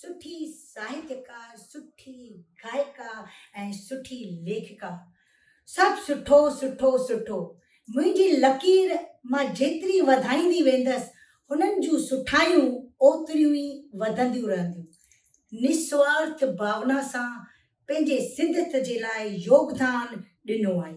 سٺي ساهتيڪار، سٺي گائيڪا ۽ سٺي ليکڪا. سڀ سٺو سٺو سٺو. منهنجي لڪير مان جيتري وڌائيندي ويندس هنن جون سٺايون اوتريون ئي وڌنديون رهنديون. نسوارٿ ڀاونا سان پنهنجي سنڌت جي لاء يوگدان ڏنو آهي.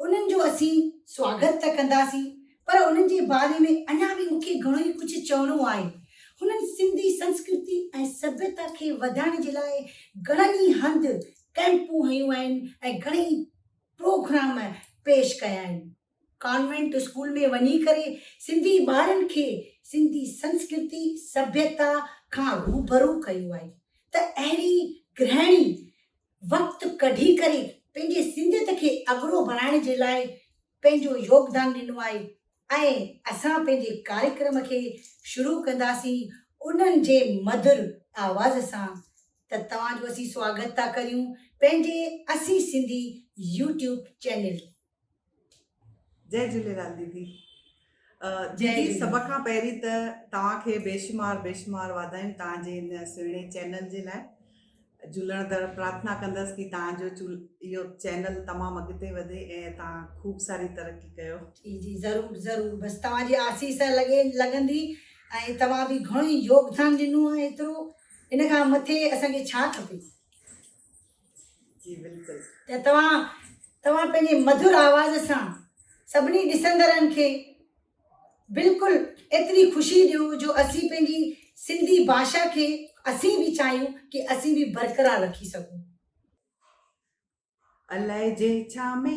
انهن جو اسين سواگت ته ڪنداسين پر انهن جي باري ۾ اڃا به مون کي گهڻو ئي ڪجهه چوڻو آهي. هنن سنڌي سنسڪرتي ۽ سڀيتا کي وڌائڻ جي لاء گهڻن ئي هنڌ ڪئمپون هنيون آهن ۽ گهڻي ئي پروگرام پيش ڪيا آهن. ڪانوينٽ اسڪول ۾ وڃي ڪري سنڌي ٻارن کي سنڌي سنسڪرتي سڀيتا کان روبرو ڪيو آهي ته اهڙي گرهڻي وقت ڪڍي ڪري پنهنجي سنڌيت کي اڳرو بڻائڻ جي لاء پنهنجو يوگدان ڏنو آهي ۽ اسان پنهنجي ڪاريڪرم کي شروع ڪنداسين انهن جي مڌر آواز سان ته توهان جو اسين سواگت ٿا ڪريون پنهنجي اسين سنڌي يوٽيوب چينل جي جهوليلال ديدي ديدي سڀ کان پهرين ته توهان کي بيشمار بيشمار واڌايون توهان جي ان سهڻي چينل جي لاء جهولڻ در پرارٿنا ڪندس ڪي توهان جو اهو چينل تمام اڳتي وڌي ۽ توهان خوب ساري ترقي ڪيو جي جي ضرور ضرور بس توهان جي آسيس لڳي لڳندي ۽ توهان به گهڻو ئي يوگدان ڏنو آهي ايترو ان کان مٿي اسان کي ڇا کپي جي بلڪل ته توهان توهان پنهنجي مڌر آواز سان سڀني ڏسندڙن کي بلڪل ايتري خوشي ڏيو جو اسين پنهنجي سنڌي ڀاشا کي اسين به چاهيون ڪي اسين به برقرار رکي سگهون. الائجي ڇا ۾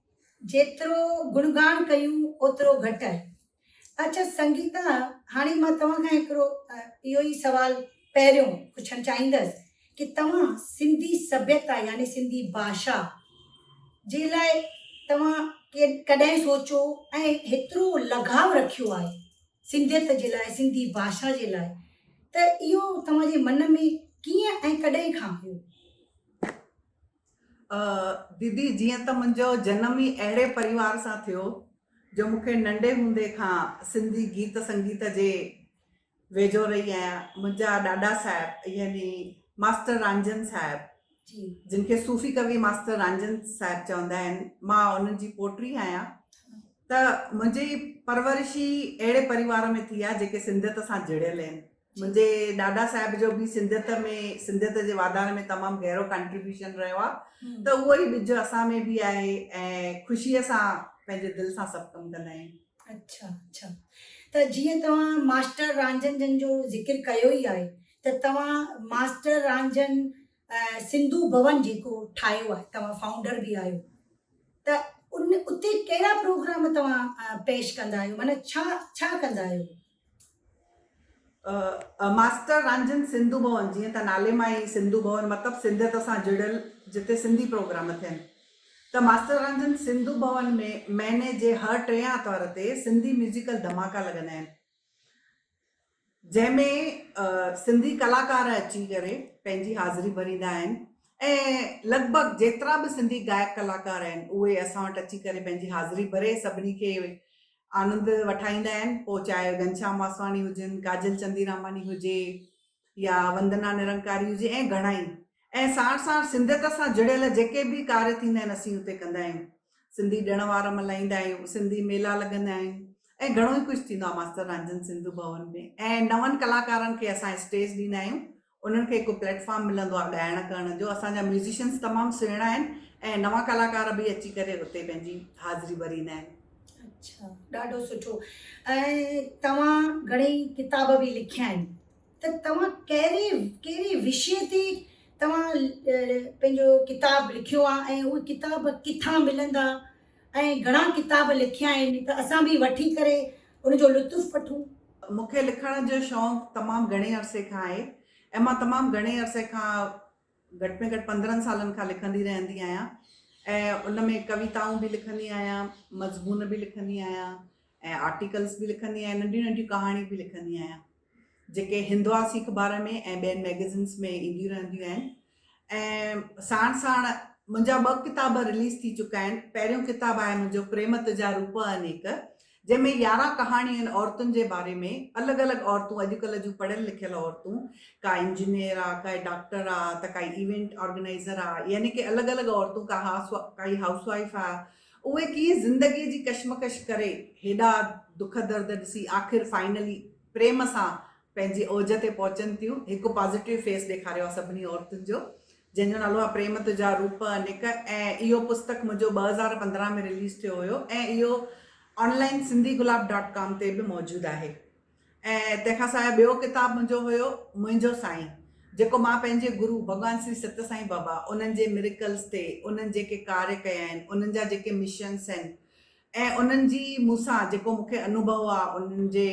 جيترو گڻگاڻ ڪيون اوترو گهٽ آهي. اچ سنگيتا هاڻي مان توهان کان هڪڙو اهو ئي سوال پهريون پڇڻ چاهيندس ڪي توهان سنڌي سڀيتا يعني سنڌي ڀاشا جي لاء توهان ڪڏهن سوچو ۽ هيترو لگاء رکيو آهي سنڌيت جي لاء سنڌي ڀاشا جي لاء ته اهو توهان جي من ۾ ڪيئن ۽ ڪڏهن کان هيو. ديدي جيئن ته منهنجو جنم ئي اهڙي پريوار سان ٿيو جو مون کي ننڍي هوندي کان سنڌي گيت سنگيت جي ويجهو رهي آهيان منهنجا ڏاڏا صاحب يعني ماستر رانجهن صاحب جن کي صوفي ڪوي ماستر رانجهن صاحب چوندا آهن مان انهن جي پوٽري آهيان ته منهنجي پرورش ئي اهڙي پريوار ۾ ٿي آهي جيڪي سنڌيت سان جڙيل آهن منهنجي ڏاڏا صاحب جو به سنڌيت ۾ سنڌيت جي واڌاري ۾ تمام گهرو ڪنٽريبيوشن رهيو آ ته اهو ئي ٻج اسان ۾ به آهي ۽ خوشيء سان پنهنجي دل سان سڀ ڪم ڪندا آهيون. اڇا اڇا ته جيئن توهان ماسٽر رانجهن جن جو ذڪر ڪيو ئي آهي ته توهان ماسٽر رانجهن سنڌو ڀون جيڪو ٺاهيو آهي توهان فائونڊر به آهيو ته ان اتي ڪهڙا پروگرام توهان پيش ڪندا آهيو معنيٰ ڇا ڇا ڪندا آهيو؟ ماستر رانجهن سنڌو ڀون، جيئن ته نالي مان ئي سنڌو ڀون مطلب سنڌيت سان جڙيل جتي سنڌي پروگرام ٿين ته ماستر رانجهن سنڌو ڀون ۾ مهيني جي هر ٽئين آرتوار تي سنڌي ميوزيڪل ڌماڪا لڳندا آهن جنهن ۾ سنڌي ڪلاڪار اچي ڪري پنهنجي حاضري ڀريندا آهن ۽ لڳ ڀڳ جيترا به سنڌي گائڪ ڪلاڪار آهن اهي اسان وٽ اچي ڪري پنهنجي حاضري ڀري سڀني کي آنند وٺائيندا آهن پوء چاهي گهنشام واسواڻي هجن، ڪاجل چنديراماڻي هجي يا وندنا نرنڪاري هجي ۽ گهڻا ئي ۽ ساڻ ساڻ سنڌيت سان جڙيل جيڪي به ڪاري ٿيندا آهن اسين اتي ڪندا آهيون سنڌي ڏڻ وار ملهائيندا آهيون سنڌي ميلا لڳندا آهن ۽ گهڻو ئي ڪجهه ٿيندو آهي ماستر رنجن سنڌو ڀون ۾ ۽ نون ڪلاڪارن کي اسان اسٽيج ڏيندا آهيون. انهن کي هڪ پليٽ فارم ملندو آهي ڳائڻ ڪرڻ جو اسان جا ميوزيشنس تمام سهڻا آهن ۽ نوان ڪلاڪار به اچي ڪري اتي پنهنجي حاضري ڀريندا آهن. اڇا ڏاڍو سٺو ۽ توهان گھڻي ڪتاب به لکيا آهن ته توهان ڪهڙي ڪهڙي وشي تي توهان پنهنجو ڪتاب لکيو آهي ۽ اهي ڪتاب ڪٿان ملندا ۽ گهڻا ڪتاب لکيا آهن ته اسان به وٺي ڪري ان جو لطف وٺون. مون کي لکڻ جو شوق تمام گهڻي عرصي کان آهي ۽ مان تمام گهڻي عرصي کان گهٽ ۾ گهٽ پندرهن سالن کان لکندي رهندي آهيان ۽ ان ۾ ڪويتائون به لکندي آهيان، مضمون به لکندي آهيان ۽ آرٽيڪلز به لکندي آهيان، ننڍيون ننڍيون ڪهاڻيون به لکندي آهيان. جيڪي هندواسي اخبار ۾ ۽ ٻين مئگزينز ۾ اينديون رهنديون آهن ۽ ساڻ ساڻ منهنجا ٻه ڪتاب رليز ٿي چڪا آهن پهريون ڪتاب آهي منهنجو پريم تجا روپ انيڪ جنهن ۾ يارهن ڪهاڻيون آهن عورتن جي باري ۾ الڳ الڳ عورتون اڄڪلهه جون پڙهيل لکيل عورتون ڪا انجنيئر آ ڪا ڊاڪٽر آ ته ڪا ايونٽ آرگنائزر آ يعني ڪي الڳ الڳ عورتون ڪا هاس ڪائي هائوس وائيف آ اهي ڪيئن زندگيء جي ڪشمڪش ڪري هيڏا دک درد ڏسي آخر فائنلي پريم سان پنهنجي اوج تي پهچن ٿيون. هڪ پازيٽيو فيس ڏيکاريو آ سڀني عورتن جو جنهن جو نالو آ پريم تجا روپ انيڪ ۽ اهو پستڪ منهنجو ٻه هزار پندرهن ۾ رليز ٿيو هيو ۽ اهو online Sindhi Gulab dot com تي به موجود آهي. ۽ تنهن کان سواء ٻيو ڪتاب منهنجو هيو منهنجو سائين جيڪو مان پنهنجي گرو ڀڳوان سري ست سائين بابا انهن جي ميريڪلز تي انهن جيڪي ڪاري ڪيا آهن انهن جا جيڪي مشنس آهن ۽ انهن جي مون سان جيڪو مون کي انوڀو آ انهن جي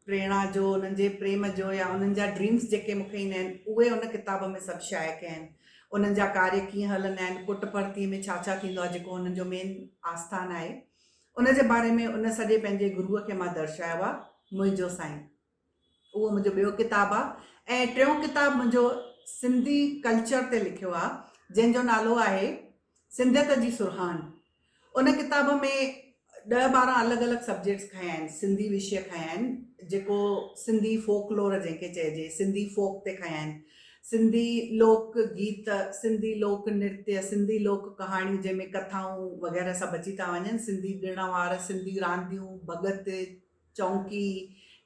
پريڻا جو انهن جي پريم جو يا انهن جا ڊريمس جيڪي مون کي ايندا آهن اهي ان ڪتاب ۾ سڀ شايع ڪيا آهن انهن جا ڪاري ڪيئن هلندا آهن پٽ پرتي ۾ ڇا ڇا ٿيندو آ جيڪو انهن جو مين آسٿان آهي ان جي باري ۾ ان سڄي پنهنجي گروء کي مان درشايو آ، منهنجو سائين اهو منهنجو ٻيو ڪتاب آ ۽ ٽيون ڪتاب منهنجو سنڌي ڪلچر تي لکيو آ جنهن جو نالو آهي سنڌيت جي سرهاڻ ان ڪتاب ۾ ڏهه ٻارهن الڳ الڳ سبجيڪٽس کنيا آهن سنڌي وشيه کنيا آهن جيڪو سنڌي فوڪ لور جنهن کي چئجي سنڌي فوڪ تي کنيا آهن سنڌي لوڪ گيت، سنڌي لوڪ نرتيه، سنڌي لوڪ ڪهاڻيون جنهن ۾ ڪٿائون وغيره سڀ اچي ٿا وڃن، سنڌي ڏڻ وار، سنڌي رانديون، ڀڳت، چونڪي،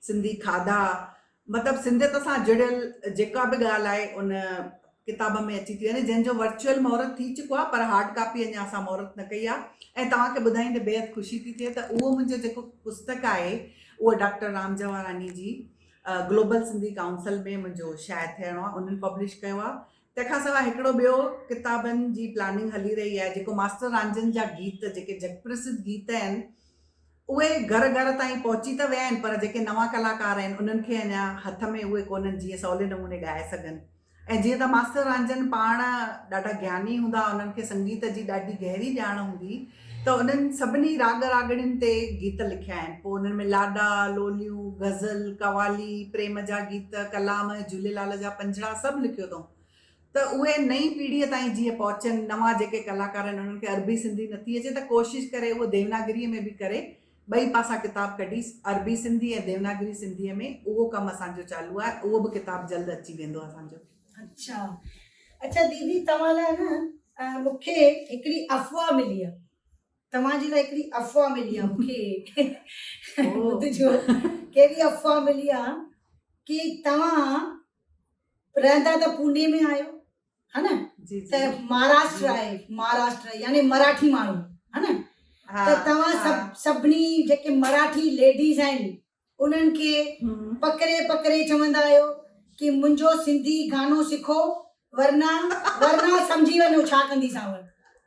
سنڌي کاڌا مطلب سنڌيت سان جڙيل جيڪا به ڳالهه آهي ان ڪتاب ۾ اچي ٿي وڃي جنهن جو ورچوئل مهورت ٿي چڪو آهي پر هارڊ ڪاپي اڃا اسان مهورت نه ڪئي آهي ۽ توهان کي ٻڌائيندي بيحد خوشي ٿي ٿئي ته اهو منهنجو جيڪو پستڪ آهي اهو ڊاڪٽر رام جهواراڻي جي گلوبل سنڌي ڪائونسل ۾ منهنجو شايع ٿيڻو آهي انهن پبلش ڪيو آهي تنهن کان سواء هڪڙو ٻيو ڪتابن جي پلاننگ هلي رهي آهي جيڪو ماستر رانجهن جا گيت جيڪي جڳ پرسڌ گيت آهن اهي گهر گهر تائين پهچي ته ويا آهن پر جيڪي نوان ڪلاڪار آهن انهن کي اڃا هٿ ۾ اهي ڪونهن جيئن سولي نموني ڳائي سگهن ۽ جيئن ته ماستر رانجھن پاڻ ڏاڍا گياني ھوندا، انھن کي سنگيت جي ڏاڍي گهري ڄاڻ ھوندي ته انھن سڀني راڳ راڳڻين تي گيت لکيا آھن. پوء انھن ۾ لاڏا، لوليون، غزل، قوالي، پريم جا گيت، ڪلام، جھوليلال جا پنجھڙا سڀ لکيو اٿئون ته اھي نئين پيڙھيء تائين جيئن پهچن، نوان جيڪي ڪلاڪار آھن انھن کي عربي سنڌي نٿي اچي ته ڪوشش ڪري اھو ديوناگريء ۾ به ڪري ٻئي پاسا ڪتاب ڪڍيس، عربي سنڌي ۽ ديوناگري سنڌيء ۾، اهو ڪم اسان جو چالو آهي، اهو به ڪتاب جلد اچي ويندو اسان جو. اڇا اڇا ديدي توهان لاء نه مون کي هڪڙي افواهه ملي آهي توهان جي لاء هڪڙي افواهه ملي آهي مون کي ٻڌجو ڪهڙي افواهه ملي آهي ڪي توهان رهندا ته پوني ۾ آهيو ها نه ته مهاراشٽر آهي مهاراشٽر يعني مراٺي ماڻهو ها نه ته توهان سڀ سڀني جيڪي مراٺي ليڊيز آهن انهن کي پڪڙي پڪڙي چوندا آهيو ڪي منهنجو سنڌي گانو سکو ورنا ورنا سمجهي وڃو ڇا ڪندي سانور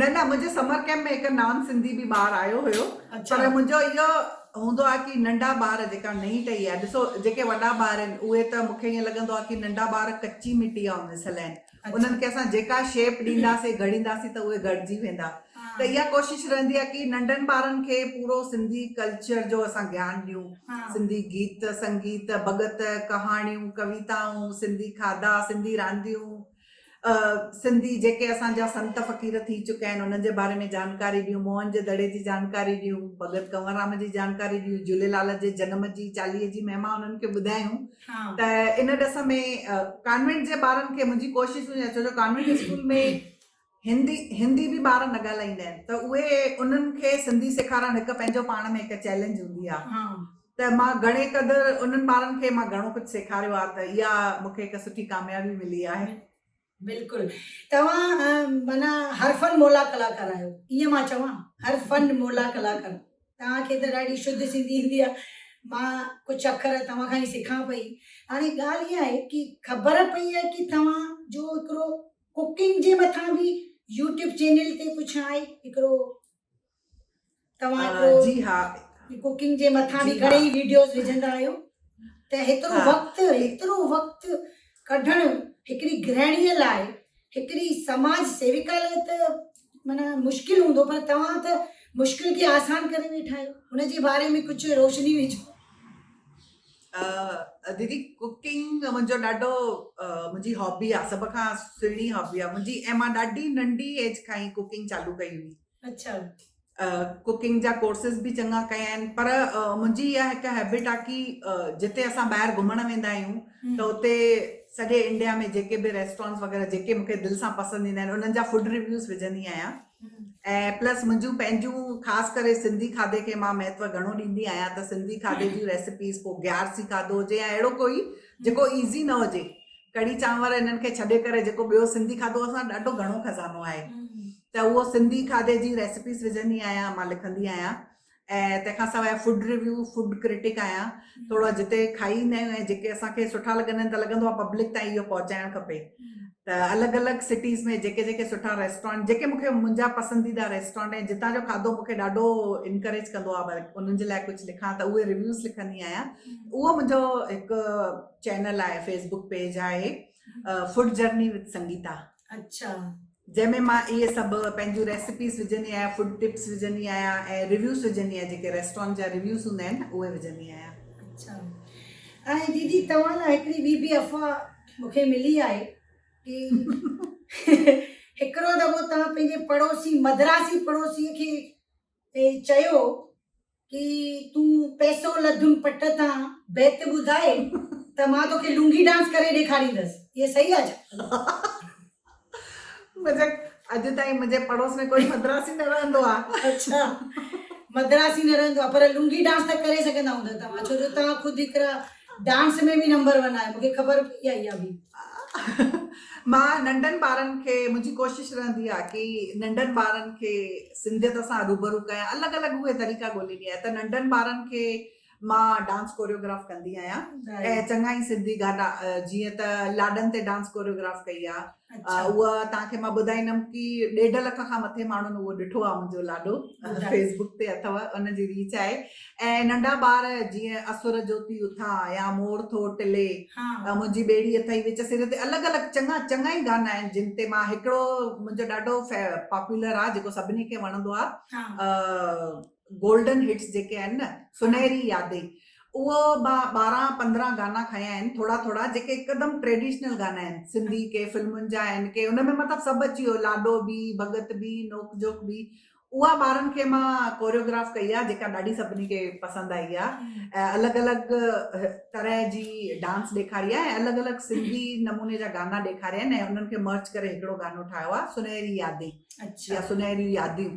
نه نه منهنجي سمر ڪيمپ ۾ هڪ نان سنڌي به ٻار آيو هيو پر منهنجو اهو هوندو آهي ڪي ننڍا ٻار جيڪا نئين ٽهي آهي ڏسو جيڪي وڏا ٻار آهن اهي ته مون کي ائين لڳندو آهي ڪي ننڍا ٻار ڪچي مٽي آهن ان سلئه انهن کي اسان جيڪا شيپ ڏينداسين گهڙينداسين ته اهي گهڙجي ويندا ته اها ڪوشش رهندي آهي ڪي ننڍن ٻارن کي پورو سنڌي ڪلچر جو اسان گيان ڏيون سنڌي گيت سنگيت ڀڳت ڪهاڻيون ڪويتائون سنڌي کاڌا سنڌي رانديون سنڌي جيڪي اسان جا سنت فقير ٿي چڪا آهن انهن جي باري ۾ جانڪاري ڏيون، موهن جي دڙي جي جانڪاري ڏيون، ڀڳت ڪنور رام جي جانڪاري ڏيون، جهوليلال جي جنم جي چاليهي جي مهما انهن کي ٻڌايون ته ان ڏس ۾ ڪانوينٽ جي ٻارن کي منهنجي ڪوشش هوندي آهي ڇو جو ڪانوينٽ اسڪول ۾ هندي هندي به ٻار نه ڳالهائيندا آهن ته اهي انهن کي سنڌي سيکارڻ هڪ پنهنجو پاڻ ۾ هڪ چئلينج هوندي آ ته مان گهڻي قدر انهن ٻارن کي مان گهڻو ڪجهه سيکاريو آ ته اها مون کي هڪ سٺي ڪاميابي ملي آهي. بلڪل توهان معنيٰ هر فن مولا ڪلاڪار آهيو ائين مان چوان هر فن مولا ڪلاڪار توهان کي ته ڏاڍي شڌ سنڌي ايندي آ مان ڪجهه اکر توهان کان ئي سکان پئي هاڻي ڳالهه اها آهي ڪي خبر پئي آهي ڪي توهان جو هڪڙو ڪوڪنگ جي مٿان به يوٽيوب چينل تي پڇا آئي هڪڙو توهان هڪڙو جي ها ڪوڪنگ جي مٿان به گهڻي ويڊيوز وجهندا آهيو ته هيترو وقت هيترو وقت ڪڍڻ هڪڙي گرهڻي لاء هڪڙي سماج سيوڪا لاء ته مانا مشڪل هوندو پر توهان ته مشڪل کي آسان ڪري ويٺا آهيو هن جي باري ۾ ڪجهه روشني وجهو ديدي ڪوڪنگ منهنجو ڏاڍو منهنجي هابي آ سڀ کان سهڻي هابي آ منهنجي ۽ مان ڏاڍي ننڍي ايج کان ئي ڪوڪنگ چالو ڪئي هئي اچھا ڪوڪنگ جا ڪورسز به چڱا ڪيا آهن پر منهنجي اها هڪ هيبٽ آ ڪي جتي اسان ٻاهر گهمڻ ويندا آهيون ته اتي سڄي انڊيا ۾ جيڪي به ريسٽورنٽس وغيره جيڪي مونکي دل سان پسند ايندا آهن انهن جا فوڊ ريويوز وجهندي آهيان ۽ پلس منهنجون پنهنجون خاص ڪري سنڌي کاڌي کي مان مهتو گهڻو ڏيندي آهيان ته سنڌي کاڌي جون ريسپيز پوء بيارسي کاڌو هجي يا اهڙو ڪوئي جيڪو ايزي نه هجي ڪڙي چانور انهن کي ڇڏي ڪري جيڪو ٻيو سنڌي کاڌو اسان ڏاڍو گهڻو خزانو آهي ته اهو سنڌي کاڌي جي ريسپيز وجهندي آهيان مان لکندي آهيان ۽ تنهن کان سواء فوڊ ريويو فوڊ ڪرٽڪ آهيان ٿورا جتي کائي ايندا آهيون ۽ جيڪي اسان کي سٺا لڳندا آهن ته لڳندو آهي پبلڪ تائين اهو پهچائڻ کپي ته الڳ الڳ سٽيز ۾ جيڪي جيڪي سٺا ريسٽورنٽ جيڪي مون کي منهنجا پسنديده ريسٽورنٽ ۽ جتان جو کاڌو مون کي ڏاڍو انڪريج ڪندو آهي ورڪ انهن جي لاء ڪجهه لکان ته اهي ريويوز لکندي آهيان اهو منهنجو هڪ چينل آهي فيسبوڪ پيج آهي فوڊ جرني وٿ سنگيتا اچھا. جنهن ۾ مان اهي سڀ پنهنجون ريسيپيز وجهندي آهيان فوڊ ٽپس وجهندي آهيان ۽ ريويوز وجهندي آهيان جيڪي ريسٽورنٽ جا ريويوز هوندا آهن نه اهي وجهندي آهيان. اچھا ۽ ديدي توهان لاء هڪڙي ٻي به افواهه مون کي ملي آهي ڪي هڪڙو دفعو توهان پنهنجي پڙوسي مدراسي پڙوسي کي تي چيو ڪي تون پئسو لڌم پٽ تان بيت ٻڌاء ته مان توکي لونگي ڊانس ڪري ڏيکاريندس اهي صحيح آ ڇا؟ بيشڪ اڄ تائين منهنجي پڙوس ۾ ڪوئي مدراسي نه رهندو آ. اڇا مدراسي نه رهندو آ پر لونگي ڊانس ته ڪري سگهندا هوندا توهان ڇو جو توهان خود هڪڙا ڊانس ۾ به نمبر ون آهي مونکي خبر پئي آهي اها به. مان ننڍن ٻارن کي منهنجي ڪوشش رهندي آهي ڪي ننڍن ٻارن کي سنڌيت سان روبرو ڪيان الڳ الڳ اهي طريقا ڳوليندي آهيان ته ننڍن ٻارن کي مان ڊانس ڪوريوگراف ڪندي آهيان ۽ چڱا ئي سنڌي گانا جيئن ته لاڏن تي ڊانس ڪوريوگراف ڪئي آهي اچھا اھا توھان کي مان ٻڌائيندم ڪي ڏيڍ لک کان مٿي ماڻھن اھو ڏٺو آ منھنجو لاڏو فيسبڪ تي اٿو ان جي ريچ آھي ۽ ننڍا ٻار جيئن اسور جوتي اٿان يا مور ٿو ٽلي منھنجي ٻيڙي اٿئي وچ سر تي الڳ الڳ چڱا چڱا ئي گانا آھن جن تي مان ھڪڙو منھنجو ڏاڍو پاپولر آ جيڪو سڀني کي وڻندو آ گولڊن هٽس جيڪي آهن نه سنهري يادي اهو مان ٻارهن پندرهن گانا کنيا آهن ٿورا ٿورا جيڪي هڪدم ٽريڊيشنل گانا آهن سنڌي ڪي فلمن جا آهن ڪي ان ۾ مطلب سڀ اچي ويو لاڏو به ڀڳت به نوڪ جوڪ به اها ٻارن کي مان ڪوريوگراف ڪئي آهي جيڪا ڏاڍي سڀني کي پسند آئي آهي الڳ الڳ طرح جي ڊانس ڏيکاري آهي ۽ الڳ الڳ سنڌي نموني جا گانا ڏيکاريا آهن ۽ انهن کي مرچ ڪري هڪڙو گانو ٺاهيو آهي سنهري يادي اچا سنهري ياديون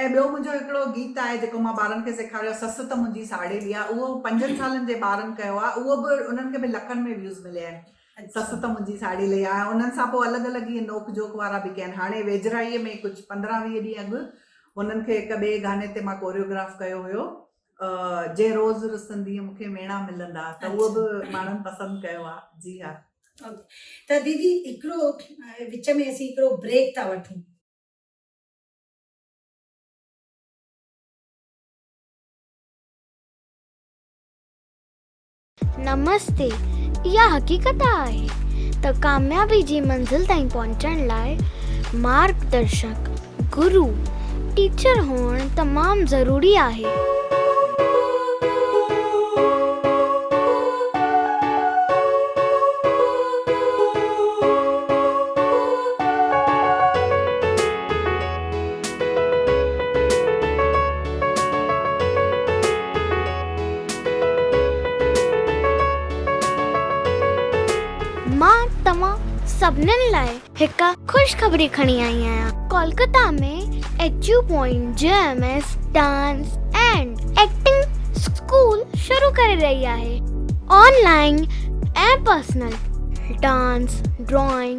۽ ٻيو منهنجو هڪڙو گيت آهي جيڪو مان ٻارن کي سيکاريو سس ته منهنجي ساڙيلي آ اهو پنجن سالن جي ٻارن ڪيو آ اهو به انهن کي به لکن ۾ ويوز مليا آهن سس ته منهنجي ساڙيلي آ ۽ انهن سان پوء الڳ الڳ ائين نوڪ جوڪ وارا به ڪيا آهن هاڻي ويجهڙائي ۾ ڪجهه پندرهن ويهه ڏينهن اڳ هنن کي هڪ ٻئي گاني تي مان ڪوريوگراف ڪيو هيو جي روز رسندينء مون کي ميڻا ملندا ته اهو به ماڻهن پسند ڪيو آ جي ها. ته ديدي هڪڙو وچ ۾ اسين هڪڙو بريڪ ٿا وٺون. نمستي اها حقيقت آهي ته ڪاميابي جي منزل تائين پهچڻ لاء مارگ درشڪ، گرو، Teacher، هئڻ تمام ضروري آهي. مان توهان سڀنن لاء هڪ خوشخبري کڻي آئي آهيان. ڪولڪتا ۾ ايچيو پوائنٽ جي M S dance and acting school شروع ڪري رهي آهي. Online ۽ personal dance, drawing,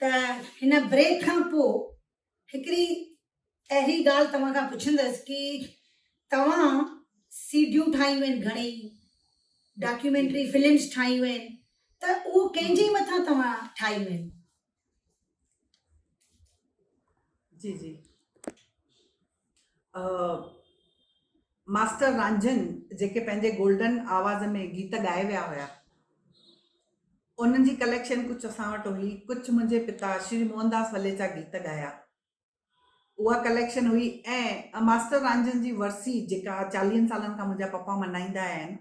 ته هن بريڪ کان پوء هڪڙي اهڙي ڳالهه توهان کان پڇندس ڪي توهان سيڊيون ٺاهيون آهن گهڻي ڊاڪيومينٽري فلمس ٺاهيون آهن ته اهو ڪنهن جي مٿان توهان ٺاهيون آهن جي جي ماسٽر رانجھن جيڪي پنهنجي گولڊن آواز ۾ گيت ڳائي ويا هيا انهن جي ڪليڪشن ڪجهه اسان وٽ هئي ڪجهه منهنجي پتا شري موهنداس وليچا گيت ڳايا اها ڪليڪشن هئي ۽ ماسٽر رانجھن جي ورسي جيڪا چاليهن سالن کان منهنجا پپا ملهائيندا آيا آهن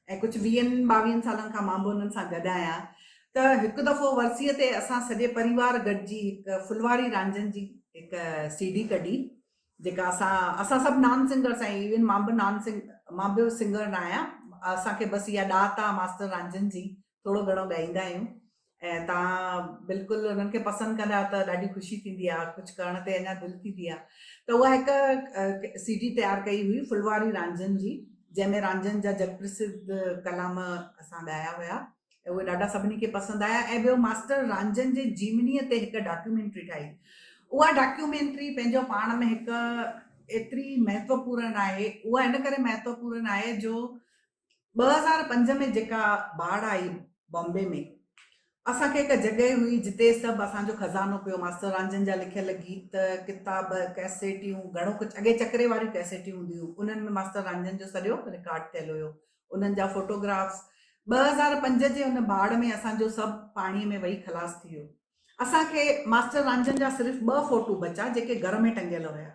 ۽ ڪجهه ويهن ٻاويهن سالن کان مان به انهن سان گڏ آهيان ته هڪ دفعو ورسيء تي اسان سڄي پريوار گڏجي هڪ ڦلواڙي رانجهن جي هڪ سي ڊي ڪڍي جيڪا اسان اسان سڀ نان سنگرس ۽ ايون مان به نان سنگ مان به سنگر نه آهيان اسان کي بس اها ڏات آهي ماستر رانجهن جي ٿورو گهڻو ڳائيندا آهيون ۽ تان بلڪل انهن کي پسند ڪندا ته ڏاڍي خوشي ٿيندي آهي ڪجهه ڪرڻ تي اڃا دل ٿيندي آهي ته اها هڪ سي ڊي تيار ڪئي هئي ڦلواري رانجهن جي جنهن ۾ رانجهن جا جڳ پرسڌ ڪلام اسان ڳايا هيا اهي ڏاڍا سڀني کي پسند آيا ۽ ٻيو ماسٽر رانجهن جي جيونيء تي هڪ ڊاڪيومينٽري ٺاهي اها ڊاڪيومينٽري پنهنجو پاڻ ۾ هڪ ايتري مهتوپورن آهي اها ان ڪري مهتوپورن آهي جو ٻه هزار پنج ۾ جيڪا باڙ آئي بامبي ۾، اسان کي هڪ جڳهه هئي جتي سڀ اسان جو خزانو پيو، ماستر رانجهن جا لکيل گيت، ڪتاب، ڪئسيٽيون، گهڻو ڪجهه اڳي چڪري واريون ڪئسيٽيون هونديون هيون، انهن ۾ ماستر رانجهن جو سڄو رڪارڊ ٿيل هيو، انهن جا فوٽو گرافس، ٻه هزار پنج جي ان باڙ ۾ اسان جو سڀ پاڻي ۾ وهي خلاص ٿي ويو، اسان کي ماستر رانجهن جا صرف ٻه فوٽو بچا جيڪي گهر ۾ ٽنگيل هيا.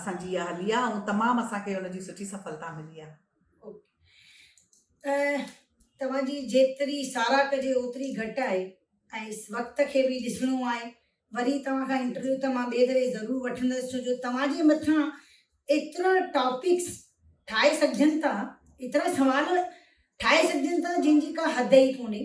اسان جي اها هلي آهي ۽ تمام اسان کي ان جي سٺي سڦلتا ملي آهي. توهان جي جيتري ساراهه ڪجي اوتري گهٽ آهي ۽ وقت کي به ڏسڻو آهي وري توهان کان انٽرويو ته مان ٻئي دفعي ضرور وٺندس ڇو جو توهان جي مٿان ايترا ٽاپڪس ٺاهي سگهجن ٿا ايترا سوال ٺاهي سگهجن ٿا جن جي ڪا حد ئي ڪونهي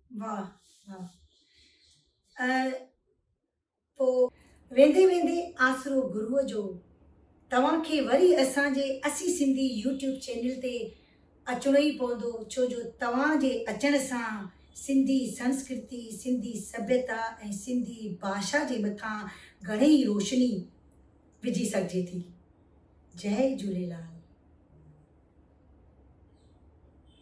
واھ واھ ۽ پو. ويندي ويندي آسرو گروء جو توهان کي وري اسان جي اسي سنڌي يوٽيوب چينل تي اچڻو ئي پوندو ڇو جو توهان جي اچڻ سان سنڌي سنسڪرتي سنڌي سڀيتا ۽ سنڌي ڀاشا جي مٿان گهڻي ئي روشني وجهي سگهجي ٿي جئي جهوليلال.